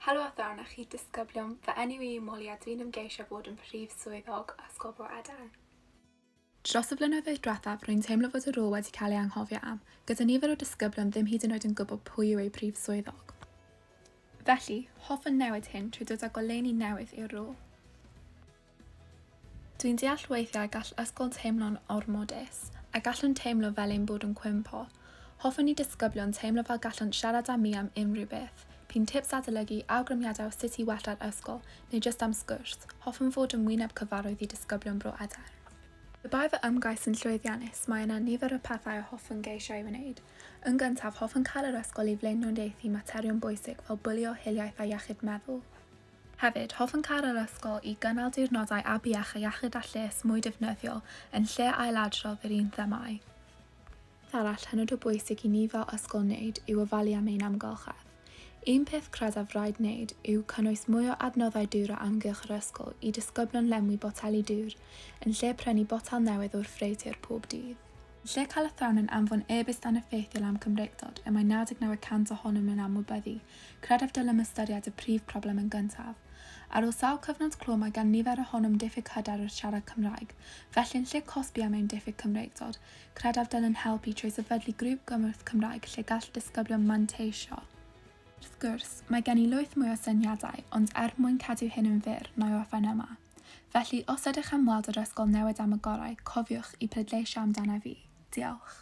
Helo a phnawn a chi disgyblion, fy enw i yw Molly a dwi'n ymgeisio fod yn Prif Swyddog Ysgol Bro Eden. Dros y flynyddoedd diwethaf rwy'n teimlo fod y rôl wedi cael ei anghofio am, gyda nifer o disgyblion ddim hyd yn oed yn gwybod pwy yw eu Prif Swyddog. Felly, hoffwn newid hyn trwy dod â goleuni newydd i'r rôl. Dwi'n deall weithiau y gall ysgol teimlo'n ormodus, a gallwn teimlo fel ein bod yn cwympo. Hoffwn i disgyblion teimlo fel gallant siarad â mi am unrhyw beth, p'un tips adolygu, awgrymiadau o sut i wella'r ysgol, neu jyst am sgwrs, hoffwn fod yn wyneb cyfarwydd i disgyblion Bro Edern. Pe bai fy ymgais yn llwyddiannus, mae yna nifer o pethau a hoffwn geisio ei wneud. Yn gyntaf, hoffwn cael yr ysgol i flaenoriaethu materion bwysig fel bwlio, hiliaeth a iechyd meddwl. Hefyd, hoffwn cau'r yr ysgol i gynnal diwrnodau afiach a iechyd a lles mwy defnyddiol yn lle ailadrodd yr un themâu. Peth arall hynod o bwysig i ni fel ysgol wneud yw ofalu am ein amgylchedd. Un peth credaf raid wneud yw cynnwys mwy o adnoddau dŵr o amgylch yr ysgol i disgyblion lenwi boteli dŵr yn lle prynu botel newydd o'r ffreutur pob dydd. Yn lle cael athrawon yn anfon e-byst aneffeithiol am Cymreictod y mae 99 y cant ohonyn nhw'n anwybyddu, Credaf dylem ystyried y prif broblem yn gyntaf. Ar ôl sawl cyfnod clo mae gan nifer ohonom diffyg hyder wrth siarad Cymraeg. Felly yn lle cosbi am ein diffyg Cymreictod, credaf dylem helpu trwy sefydlu grŵp gymorth Cymraeg lle gall disgyblion manteisio. Wrth gwrs, mae gen i lwyth mwy o syniadau, ond er mwyn cadw hyn yn fyr, na i orffen yma. Felly, os ydych am weld yr ysgol newid am y gorau, cofiwch i pleidleisio amdana fi. Diolch.